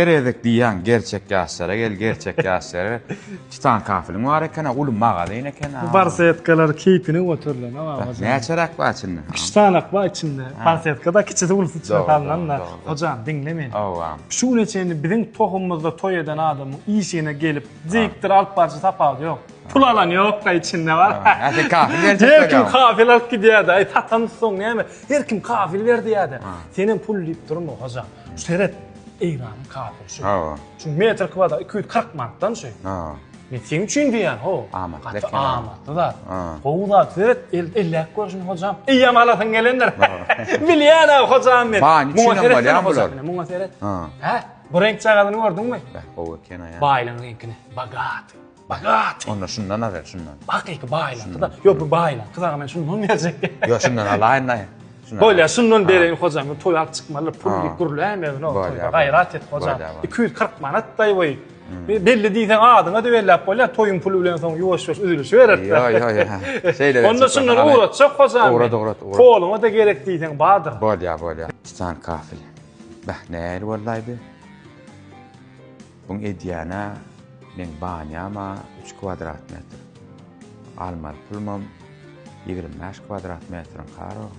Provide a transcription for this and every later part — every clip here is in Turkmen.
Her gezek diýýäň gerçek ýaşlara gel gerçek ýaşlara titan kafeliň bar ekena uly magazyn ekena. Bu barsetkalar keýpini göterilen ha baba jan. Näçeräk bar içinde? Üç sanak bar içinde. Barsetkada kiçisi ulysy içine salnan da. Hojam diňle meni. Hawa. Şu güne çenli biziň tohumymyzda toý eden adamyň işigne gelip dikdir alyp barjy tapawudy ýok. Pul alan ýokka içinde bar. Hä sen kafel berjek bolýaň. Her kim kafel alyp gidýärdi. Aý satansoň näme? Her kim kafel ber diýýärdi. Senem pul diýip durma hojam. Seret Eýranyň kafiry şu. Hawa. Şu metr kwadrat iki ýüz kyrk manatdan şu. Hawa. Men seň üçin diýýän, ho. Amatly Gaty ekeni. amatly zat. Ha. Gowy zat. Seret, el, elläp gör şuny hojam. Eýýäm alasyň gelendir. Bilýän ha hojam men. Baýyň Muňa içinden seretmeli bolýar hojam, bular. ine, Muňa seret. Ha. Hä? Bu reňk çagazyny gördüňmi? Beh, gowy eken aýa. Baýlygyň reňkini. Bogat. Bagat. Onda şundan azer şundan. Hakyky baýlandy-da. Ýok, bu baýlandy. Gyzaga men şundan berjekdi. Ýok, şundan alaýyn daýy. Bolýa, şundan bereýin hojam. Bu toý alyp çykmaly pul diýip gürläme öňe oturyp. Gaýrat et hojam. 240 manat daýy we belli diýseň adyňa debelläp bolýa. Toýuň puly bilen soň ýuwaş-ýuwaş üzülişip berer. Ýok, ýok, ýok. Şeýle. Onda şundan ugratjak hojam. Ugrat, ugrat, ugrat. Poluňa-da gerek diýseň bardyr. Bolýa, bolýa. Titan kafel. Bäh, nähili boldaýdy? Buň edýänä meň banýama üç kwadrat metr. Almaly pulumam ýigrimi bäş kwadrat metriň karo.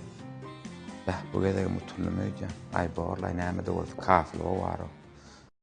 Bäh, bu gezegem utundym öýdýän. Aý, bor-laý, näme-de bolsa, kafylga bar-ow.